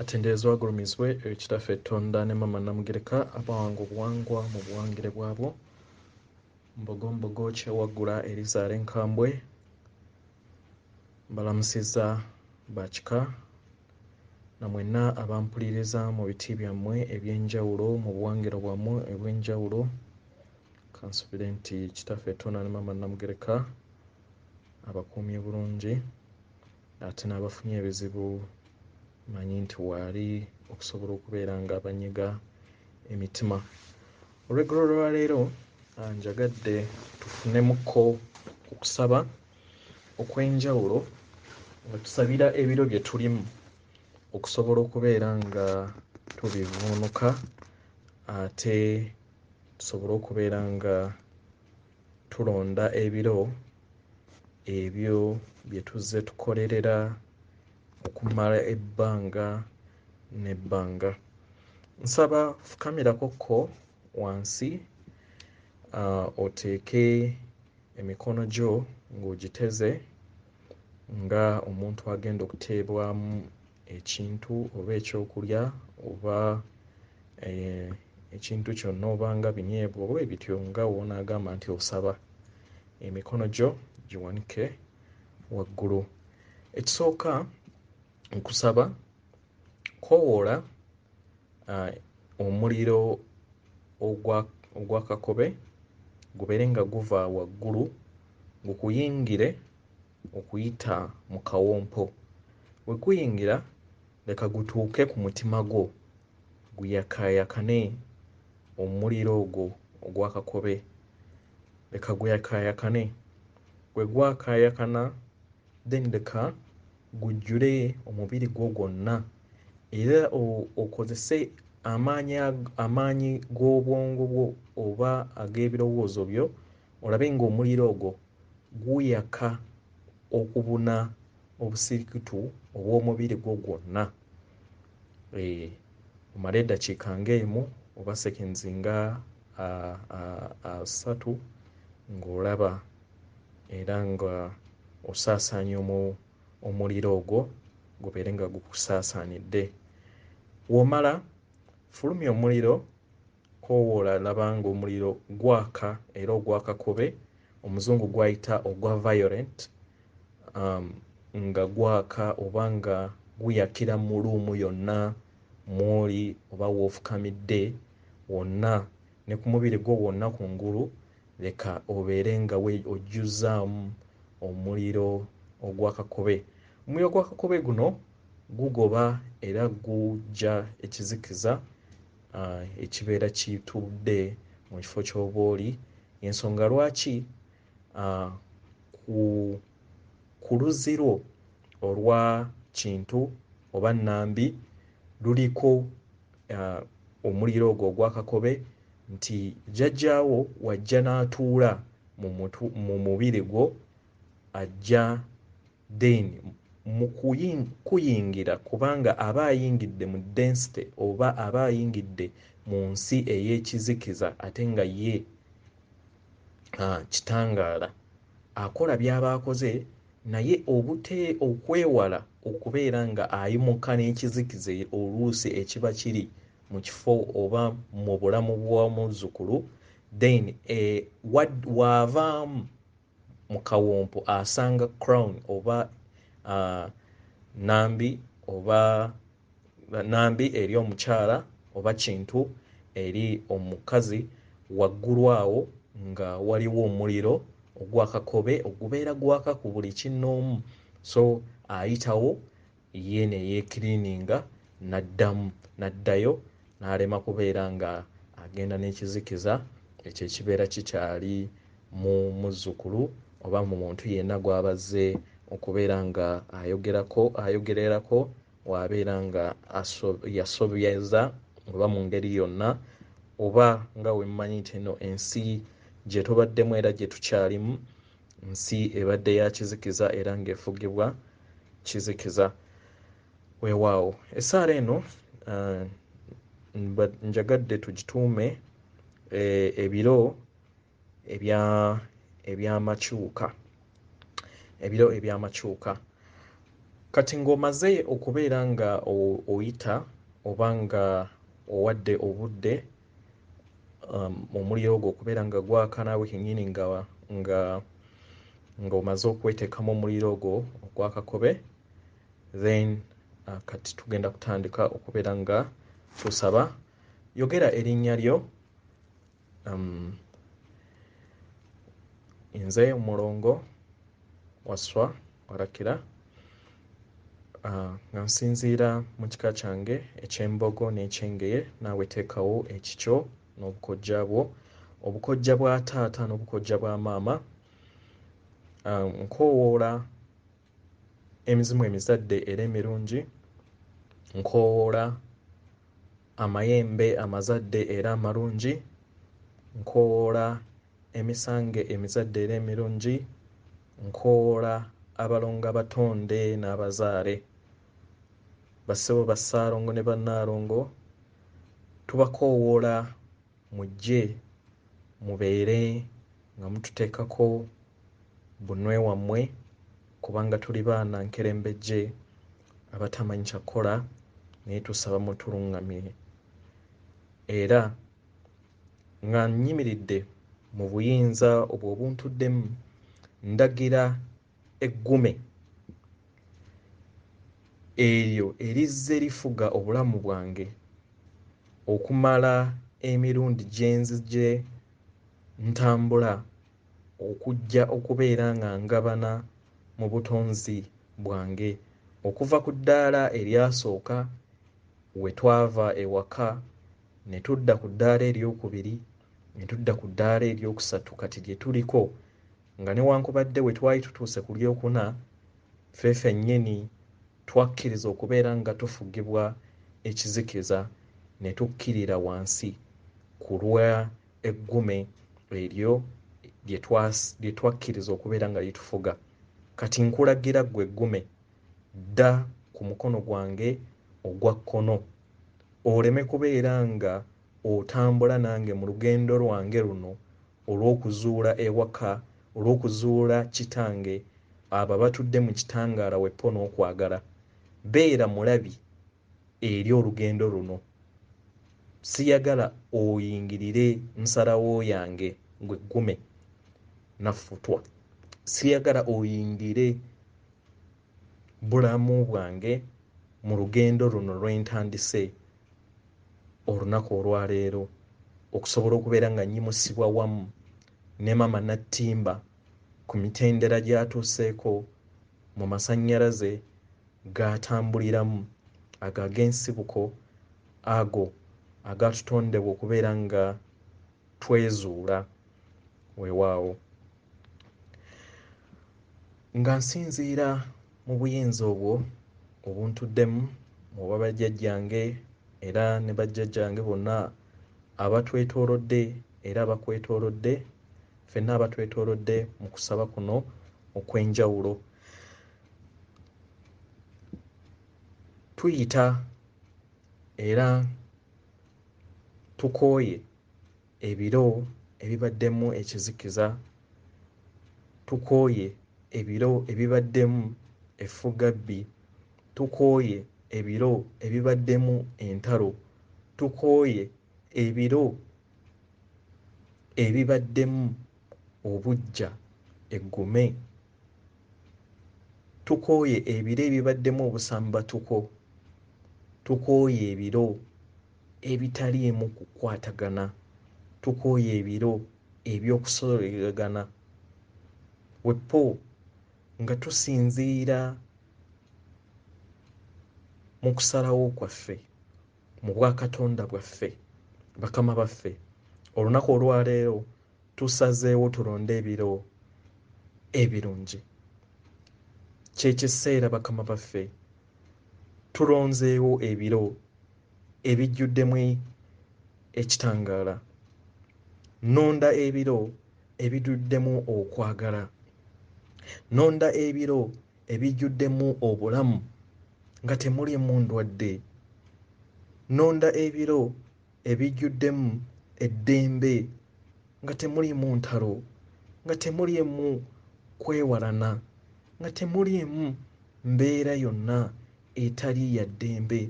atenderezebwe agulumizibwe eri kitaffe tonda ne mama namugereka abawanga obuwangwa mu buwangire bwabwo mbogo mbogo kyewaggula erizaala enkambwe mbalamusiza bakika na mwenna abampuliriza mu biti byammwe ebyenjawulo mu buwangiro bwammwe ebwenjawulo kansubire nti kitaffe tonda ne mama namugereka abakuumye bulungi Ate n'abafunye ebizibu mmanyi nti waali okusobola okubeera nga banyiga emitima. Olweggulo lwa leero njagadde tufunemuko ku kusaba okw'enjawulo nga tusabira ebiro bye tulimu okusobola okubeera nga tubivvuunuka ate tusobole okubeera nga tulonda ebiro ebyo bye tuzze tukolerera okumala ebbanga n'ebbanga nsaba fukamirako ko wansi uh, oteeke emikono gyo ng'ogiteze nga omuntu agenda okuteebwamu ekintu oba ekyokulya oba eh, ekintu kyonna oba nga binyeebwa oba ebityo nga wonaagamba nti osaba emikono gyo giwanike waggulu ekisooka nkusaba kowoola eh, omuliro ogwakakobe gubeere nga guva waggulu gukuyingire okuyita mu kawompo we guyingira leka gutuuke ku mutima gwo guyakaayakane omuliro ogwo ogwa kakobe leka guyakaayakane bwe gwakaayakana then leka gujjule omubiri gwo gwonna era okozese amaanyi amaanyi g'obwongo bwo oba ag'ebirowoozo byo olabe ng'omuliro ogwo guyaka okubuna obusirikitu obw'omubiri gwo gwonna eh, omala eddakiika ng'emu oba seconds nga asatu ng'olaba era nga osaasaanya omuliro ogwo gubeere nga gukusaasaanidde womala fulumya omuliro Koowoola laba ng'omuliro gwaka era ogwa kakobe, Omuzungu gw'ayita ogwa violent, nga gwaka oba nga guyakira mu luumu yonna mw'oli oba w'ofukamidde wonna ne ku mubiri gwo gwonna ku ngulu, leka obeere nga ojjuzzaamu omuliro ogwa kakobe. Omuliro gwa kakobe guno gugoba era guggya ekizikiza. uh, ekibeera kitudde mu kifo ky'oba oli ensonga lwaki uh, ku, ku luzirwo olwa kintu oba nambi luliko uh, omuliro ogwo ogwakakobe nti jjajjaawo wajja n'atuula mu mubiri gwo ajja then mukuyingira kubanga aba ayingidde mu density oba aba ayingidde mu nsi ey'ekizikiza ate nga ye kitangaala akola byaba akoze naye obute okwewala okubeera nga ayimuka n'ekizikiza oluusi ekiba kiri mu kifo oba mu bulamu bw'omuzzukulu then e, waavaamu mu kawompo asanga crown oba uh, nambi oba nambi eri omukyala oba kintu eri omukazi waggulu awo nga waliwo omuliro ogwakakobe ogubeera gwaka ku buli kinnoomu so ayitawo ye ne yeekiriininga n'addamu n'addayo n'alema kubeera ng'agenda n'ekizikiza ekyo ekibeera kikyali mu muzzukulu oba mu muntu yenna gw'aba azze okubeera ng'ayogerako ayogererako w'abeera nga yasobyeza oba mu ngeri yonna oba nga we mmanyi nti eno ensi gye tubaddemu era gye tukyalimu nsi ebadde ya kizikiza era ng'efugibwa kizikiza weewaawo essaala eno uh, njagadde tugituume eh, ebiro ebyamakyuka ebiro ebyamakyuka kati ng'omaze okubeera nga oyita oba nga owadde obudde um, omuliro ogwo okubeera nga gwaka naawe kenyini nga nga nga omaze okweteekamu omuliro ogwo ogwakakobe then uh, kati tugenda kutandika okubeera nga tusaba yogera erinnya lyo um, nze omulongo waswa orakira ah, nga nsinziira mu kika kyange eky'embogo n'ekyengeye naawe teekawo ekikyo n'obukojja bwo obukojja bwa taata n'obukojja bwa maama ah, nkoowoola emizimu emizadde era emirungi nkoowoola amayembe amazadde era amalungi, nkoowoola emisange emizadde era emirungi, nkoowoola abalongo abatonde n'abazaale. Bassebo, Bassaalongo ne Bannaalongo tubakoowoola mujje mubeere nga mututeekako bunwe wammwe kubanga tuli baana nkerembejje abatamanyi kyakukola naye tusaba mutulungamire era nga nyimiridde mu buyinza obwo obuntuddemu ndagira eggume eryo erizze lifuga obulamu bwange okumala emirundi gyenzi gye ntambula okujja okubeera nga ngabana mu butonzi bwange okuva ku ddaala eryasooka we twava ewaka ne tudda ku ddaala eryokubiri ne tudda ku ddaala eryokusatu kati gye tuliko nga newankubadde we twali tutuuse ku lyokuna ffe fennyini twakkiriza okubeera nga tufugibwa ekizikiza ne tukkirira wansi ku lwa eggume eryo lye twakkiriza okubeera nga litufuga kati nkulagira ggwe eggume dda ku mukono gwange ogwa kkono oleme kubeera nga otambula nange mu lugendo lwange luno olw'okuzuula ewaka olw'okuzuula kitange abo abatudde mu kitangaala weppo n'okwagala beera mulabi eri olugendo luno. Siyagala oyingirire nsalawo yange gwe gume nafutwa. Siyagala oyingire bulamu bwange mu lugendo luno lwentandise olunaku olwaleero okusobola okubeera nga nyimusibwa wamu ne mama Nattimba ku mitendera gyatuuseeko mu masannyalaze g'atambuliramu, ago ag'ensibuko, ago agaatutondebwa okubeera nga twezuula. Weewaawo, nga nsinziira mu buyinza obwo obuntuddemu, oba bajjajjange era ne bajjajjange bonna abatwetoolodde era abakwetoolodde, fenna abatwetolodde mu kusaba kuno okwenjawulo tuyita era tukooye ebiro ebibaddemu ekizikiza tukooye ebiro ebibaddemu effuggabbi tukooye ebiro ebibaddemu entalo tukooye ebiro ebibaddemu obuggya eggume. Tukooye ebiro ebibaddemu obusambatuko. Tukooye ebiro ebitaliimu kukwatagana. Tukooye ebiro eby'okusoleragana. Weppo nga tusinziira mu kusalawo kwaffe. mu bwa Katonda bwaffe. Bakama baffe, olunaku olwaleero tusazeewo tulonde ebiro ebirungi. Kyekiseera bakama baffe tulonzeewo ebiro ebijjuddemu ekitangaala. Nonda ebiro ebiduddemu okwagala. Nonda ebiro ebijjuddemu obulamu nga temulimu ndwadde. Nnonda ebiro ebijjuddemu eddembe nga temulimu ntalo, nga temulimu kwewalana, nga temulimu mbeera yonna etali ya ddembe.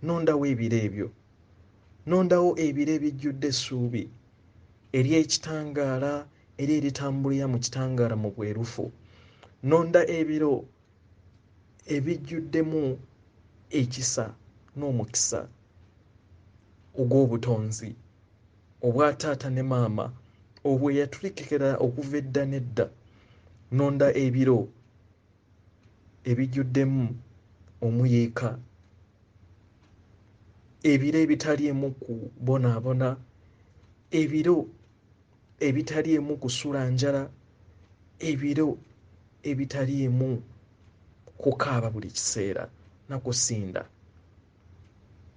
Nnondawo ebiro ebyo. Nnondawo ebiro ebijjudde essuubi ery'ekitangaala era eritambulira mu kitangaala mu bwerufu nonda ebiro ebijjuddemu ekisa n'omukisa ogw'obutonzi obwa taata ne maama obwo eyatulikekera okuva edda n'edda nonda ebiro ebijjuddemu omuyiika ebiro ebitaliimu kubonaabona ebiro ebitaliimu kusula njala ebiro ebitaliimu kukaaba buli kiseera na kusinda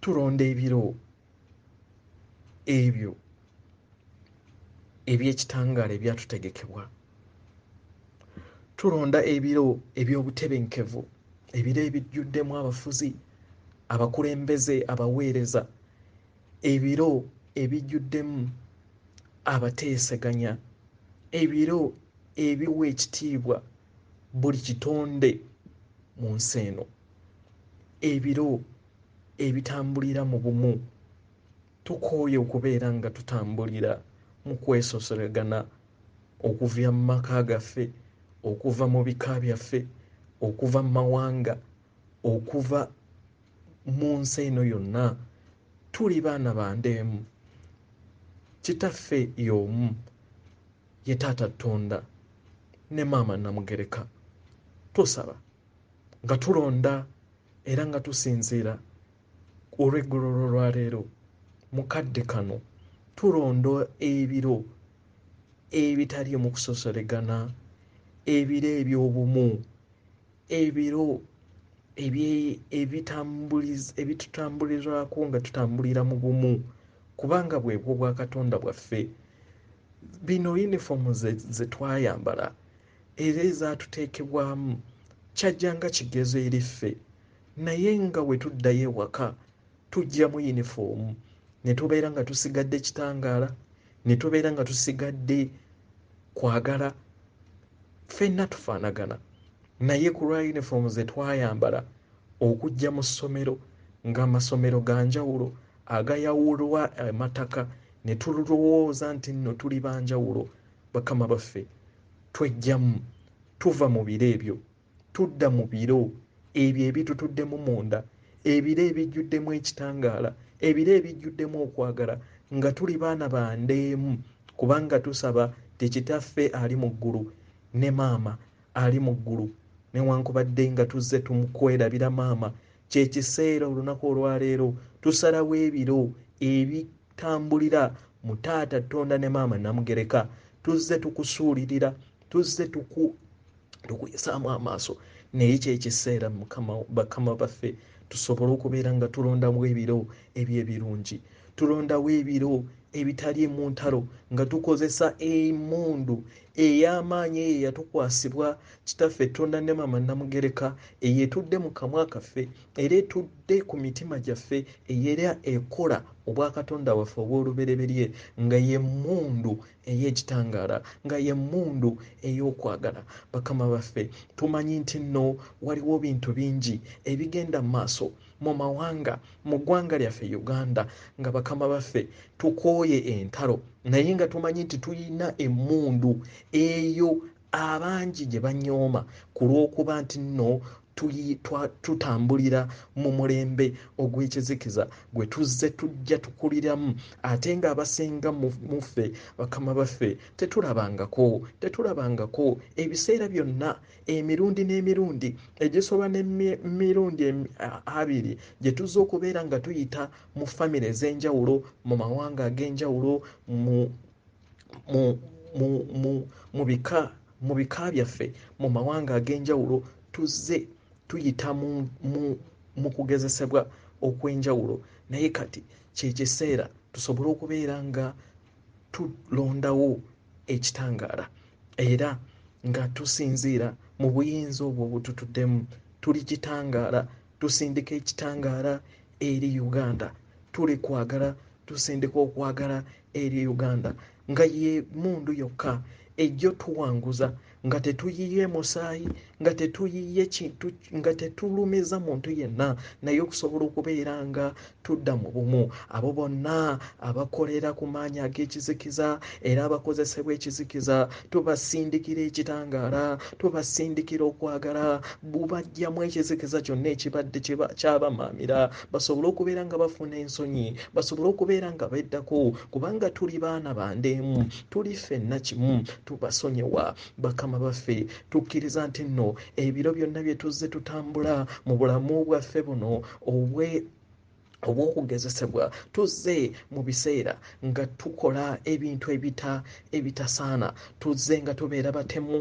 tulonda ebiro ebyo ebyekitangaala ebyatutegekebwa tulonda ebiro ebyobutebenkevu ebiro ebijjuddemu abafuzi abakulembeze abaweereza ebiro ebijjuddemu abateeseganya ebiro ebiwa ekitiibwa buli kitonde mu nsi eno ebiro ebitambulira mu bumu tukooye okubeera nga tutambulira mu kwesoseregana okuva mu maka gaffe okuva mu bika byaffe okuva mu mawanga okuva mu nsi eno yonna tuli baana ba ndeemu kitaffe y'omu ye taata ttonda ne maama namugereka tusaba nga tulonda era nga tusinziira olweggulo lwolwaleero mu kadde kano tulonda ebiro ebitaliimu kusosolegana ebiro eby'obumu ebiro ebitutambulirako nga tutambulira mu bumu kubanga bwebwo bwa katonda bwaffe bino yunifoomu ze twayambala era ezatuteekebwamu kyajja nga kigezo eri ffe naye nga bwe tuddayo ewaka tujjamu yunifoomu ne tubeera nga tusigadde kitangaala ne tubeera nga tusigadde kwagala ffenna tufaanagana naye ku lwa yunifoomu ze twayambala okujja mu ssomero ng'amasomero ga njawulo agayawulwa amataka ne tulowooza nti nno tuli ba njawulo bakama baffe tweggyamu tuva mu biro ebyo tudda mu biro ebyo ebitutuddemu munda ebiro ebijjuddemu ekitangaala ebiro ebijjuddemu okwagala nga tuli baana bandeemu kubanga tusaba ti kitaffe ali mu ggulu ne maama ali mu ggulu newankubadde nga tuzze tumukwerabira maama kyekiseera olunaku olwaleero tusalawo ebiro ebitambulira mu taata tonda ne maama namugereka tuzze tukusuulirira tuzze tuku tukuyisaamu amaaso naye kyekiseera mukama bakama baffe tusobole okubeera nga tulondamu ebiro ebyo ebirungi tulondawo ebiro ebitali emuntalo nga tukozesa emundu ey'amaanyi eyo eyatukwasibwa kitaffe etonda ne mama namugereka eyo etudde mu kamwa kaffe era etudde ku mitima gyaffe eyera ekola obwakatonda waffe obw'olubereberye nga yemundu ey'ekitangaala nga y'emmundu ey'okwagala bakama baffe tumanyi nti nno waliwo bintu bingi ebigenda mu maaso mu mawanga mu ggwanga lyaffe uganda nga bakama baffe tukooye entalo naye nga tumanyi nti tulina emmundu eyo abangi gye banyooma ku lw'okuba nti nno tutambulira mu mulembe ogw'ekizikiza gwe tuzze tujja tukuliramu ate ng'abasinga mu ffe bakama baffe tetulabangako tetulabangako ebiseera byonna emirundi n'emirundi egisoba n'emirundi abiri gye tuzze okubeera nga tuyita mu famire ez'enjawulo mu mawanga ag'enjawulo mu mu bika mu bika byaffe mu mawanga ag'enjawulo tuzze tuyita mu kugezesebwa okw'enjawulo naye kati kyekiseera tusobole okubeera nga tulondawo ekitangaala era nga tusinziira mu buyinza obwo obututuddemu tuli kitangaala tusindika ekitangaala eri uganda tuli kwagala tusindika okwagala eri uganda nga ye mundu yokka ejjo tuwanguza nga tetuyiye musaayi nga tetuyiye kintu nga tetulumiza muntu yenna naye okusobola okubeera nga tudda mu bumu abo bonna abakolera ku maanyi ag'ekizikiza era abakozesebwa ekizikiza tubasindikira ekitangaala tubasindikira okwagala bubajjamu ekizikiza kyonna ekibadde kyabamaamira basobole okubeera nga bafuna ensonyi basobole okubeera nga beddako kubanga tuli baana bande emu tuli ffenna kimu tubasonyiwa bakama baffe tukkiriza nti nno ebiro byonna bye tuzze tutambula mu bulamu bwaffe buno obwe obw'okugezesebwa tuzze mu biseera nga tukola ebintu ebita ebitasaana tuzze nga tubeera batemu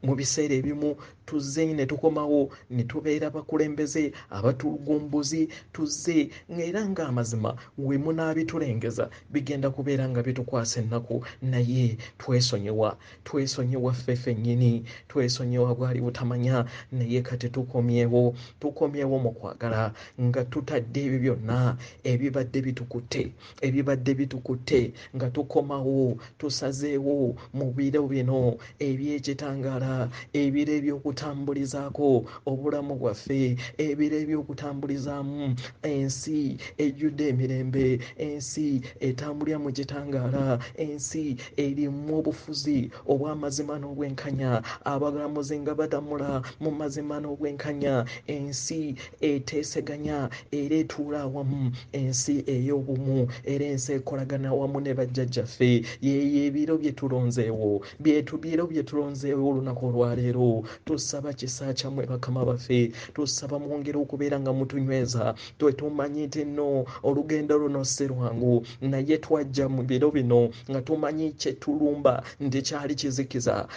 mu biseera ebimu tuzze ne tukomawo ne tubeera bakulembeze abatulugumbuzi tuzze ng'era ng'amazima we munaabitulengeza bigenda kubeera nga bitukwasa ennaku naye twesonyiwa twesonyiwa ffe fennyini twesonyiwa bwali butamanya naye kati tukomyewo tukomyewo mu kwagala nga tutadde ebyo byonna ebibadde bitukutte ebibadde bitukutte nga tukomawo tusazeewo mu biro bino ebyekitangaala ebiro ebyokutambulizaako obulamu bwaffe ebiro ebyokutambulizaamu ensi ejjudde emirembe ensi etambulira mu kitangaala ensi erimu obufuzi obw'amazima n'obwenkanya abagalamuzi nga badamula mu mazima n'obwenkanya ensi eteeseganya era etuula awamu ensi ey'obumu era ensi ekolagana awamu ne bajjajjaffe yeeyo ebiro bye tulonzeewo byetubiro bye tulonzeewo olunaku olwaleero tusaba kisa kyammwe bakama baffe tusaba mwongere okubeera nga mutunyweza twe tumanyi nti nno olugendo luno si lwangu naye twajja mu biro bino nga tumanyi kyetulumba nti kyali kizikiza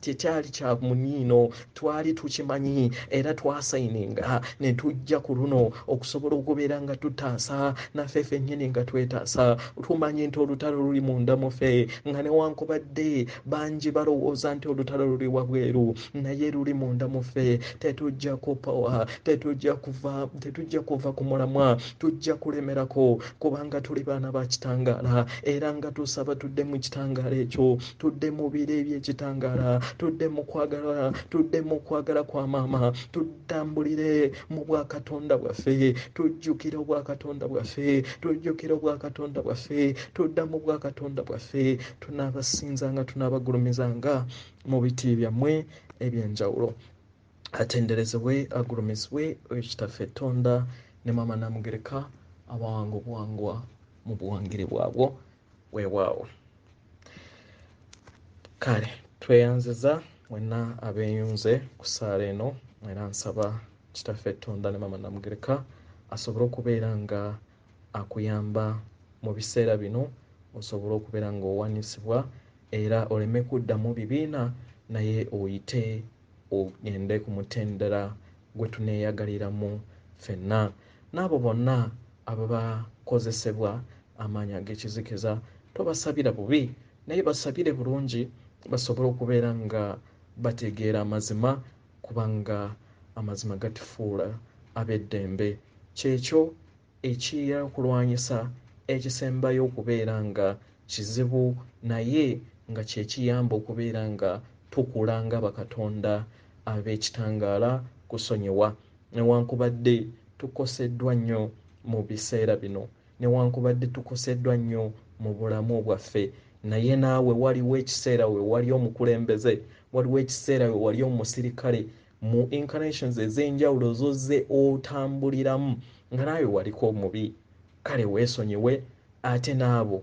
tekyali kya muniino twali tukimanyi era twasayininga ne tujja ku luno okusobola okubeera nga tutaasa naffe fennyini nga twetaasa tumanyi nti olutalo luli munda mufe nga newankubadde bangi balowooza nti olutalo luli wabweru naye luli munda mufe tetujja kupowa tetujja kuva tetujja kuva ku mulamwa tujja kulemerako kubanga tuli baana ba kitangaala era nga tusaba tudde mu kitangaala ekyo tudde mu biro eby'ekitangaala tudde mu kwagala tudde mu kwagala kwa maama tutambulire mu bwakatonda bwaffe tujjukire obwakatonda bwaffe tujjukire obwakatonda bwaffe tudda mu bwakatonda bwaffe tunaabasinzanga tunaabagulumizanga mu biti byammwe eby'enjawulo atenderezebwe agulumizibwe oyo kitaffe tonda ne maama namugereka abawanga obuwangwa mu buwangire bwabwo weewaawo kale tweyanziza mwenna abeeyunze ku ssaala eno era nsaba kitaffe tonda ne mama namugereka asobole okubeera nga akuyamba mu biseera bino osobole okubeera ng'owanisibwa era oleme kuddamu bibiina naye oyite ogende ku mutendera gwe tuneeyagaliramu ffenna n'abo bonna ababakozesebwa amaanyi ag'ekizikiza tobasabira bubi naye basabire bulungi basobole okubeera nga bategeera amazima kubanga amazima gatufuula ab'eddembe kyekyo eky'okulwanyisa ekisembayo okubeera nga kizibu naye nga kye kiyamba okubeera nga tukula nga bakatonda ab'ekitangaala, kusonyiwa. Newankubadde tukoseddwa nnyo mu biseera bino, newankubadde tukoseddwa nnyo mu bulamu bwaffe, naye naawe waliwo ekiseera we wali omukulembeze, waliwo ekiseera we wali omusirikale, mu incarnations ez'enjawulo zozze otambuliramu nga naawe waliko omubi kale weesonyiwe ate n'abo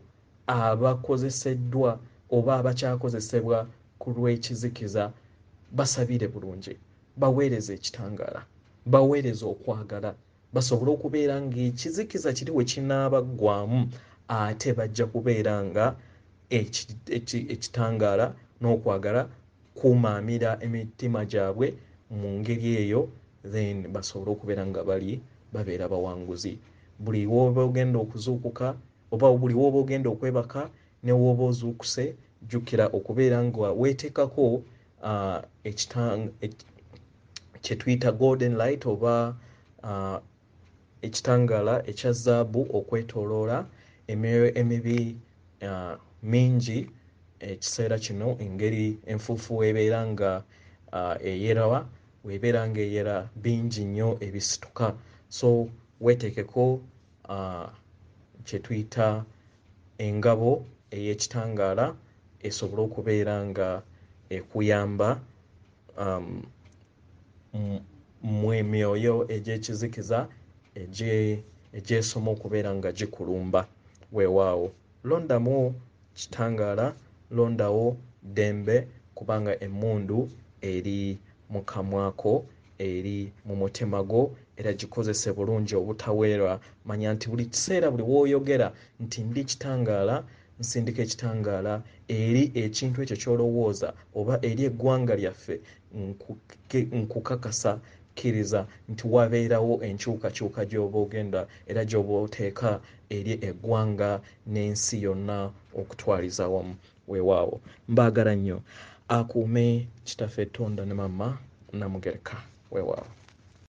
abakozeseddwa oba abakyakozesebwa ku lw'ekizikiza basabire bulungi baweereze ekitangaala baweereze okwagala basobole okubeera ng'ekizikiza kiri we kinaabaggwamu ate bajja kubeera nga ekitangaala n'okwagala kumaamira emitima gyabwe mu ngeri eyo then basobole okubeera nga bali babeera bawanguzi buli wooba ogenda okuzuukuka oba buli wooba ogenda okwebaka ne wooba ozuukuse jjukira okubeera nga weeteekako uh, ekitang kyetuyita golden light oba uh, ekitangaala ekya zaabu okwetooloola emyoyo emibi uh, mingi ekiseera kino engeri enfuufu weebeera nga uh, eyerawa weebeera nga eyera bingi nnyo ebisituka so weetekeko uh, kyetuyita engabo ey'ekitangaala esobole okubeera nga ekuyamba um, mmwe myoyo egy'ekizikiza egyesoma okubeera nga gikulumba weewaawo londamu kitangaala londawo ddembe kubanga emmundu eri mu kamwako eri mu mutima gwo era gikozese bulungi obutaweerwa manya nti buli kiseera buli wooyogera nti ndi kitangaala Nsindika ekitangaala eri ekintu ekyo ky'olowooza oba eri eggwanga lyaffe, nkukakasa kkiriza nti wabeerawo enkyukakyuka gy'oba ogenda era gy'oba oteeka eri eggwanga n'ensi yonna okutwaliza awamu. Weewaawo. Mbaagala nnyo. Akuume Kitaffe Tonda ne Maama Namugereka. Weewaawo.